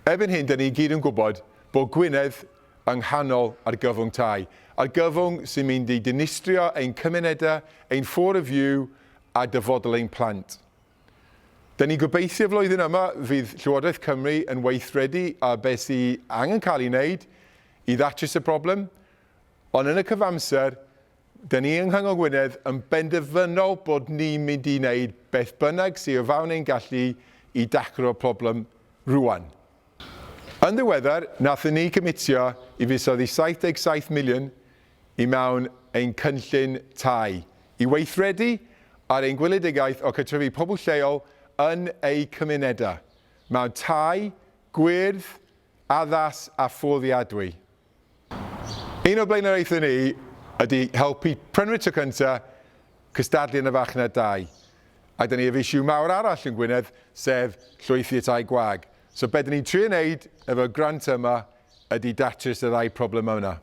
Erbyn hyn, 'da ni i gyd yn gwybod bod Gwynedd yng nghanol argyfwng tai. Argyfwng sy'n mynd i dinistrio ein cymunedau, ein ffôr y fyw a dyfodol ein plant. Da ni'n gobeithio flwyddyn yma fydd Llywodraeth Cymru yn weithredu ar beth sy angen cael ei wneud i ddatrys y broblem, ond yn y cyfamser, Dyn ni yng Nghyngor Gwynedd yn benderfynol bod ni'n mynd i wneud beth bynnag sydd o fawn ein gallu i daclo'r problem rŵan. Yn ddiweddar, nathon ni cymitio i fuddsoddi 77 miliwn i mewn ein cynllun tai, i weithredu ar ein gweledigaeth o cartrefu pobl lleol yn eu cymunedau, mewn tai, gwyrdd, addas a fforddiadwy. Un o'r blaenoriaethau ni ydy helpu prynwyr tro cynta cystadlu yn y farchnad dai. A da ni ef issue mawr arall yn Gwynedd, sef llwythi y tai gwag. So be da ni'n trio wneud efo'r grant yma ydy datrys y ddau problemau yna.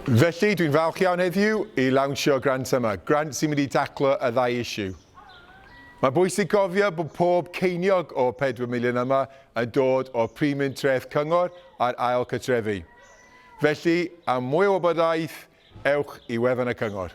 Felly, dwi'n falch iawn heddiw i lawnsio'r grant yma, grant sy'n mynd i daclo y ddau issue. Mae'n bwysig cofio bod pob ceiniog o'r pedwar miliwn yma yn dod o'r primiwn treth cyngor ar ail cartrefi. Felly, am mwy o wybodaeth, ewch i wefan y Cyngor.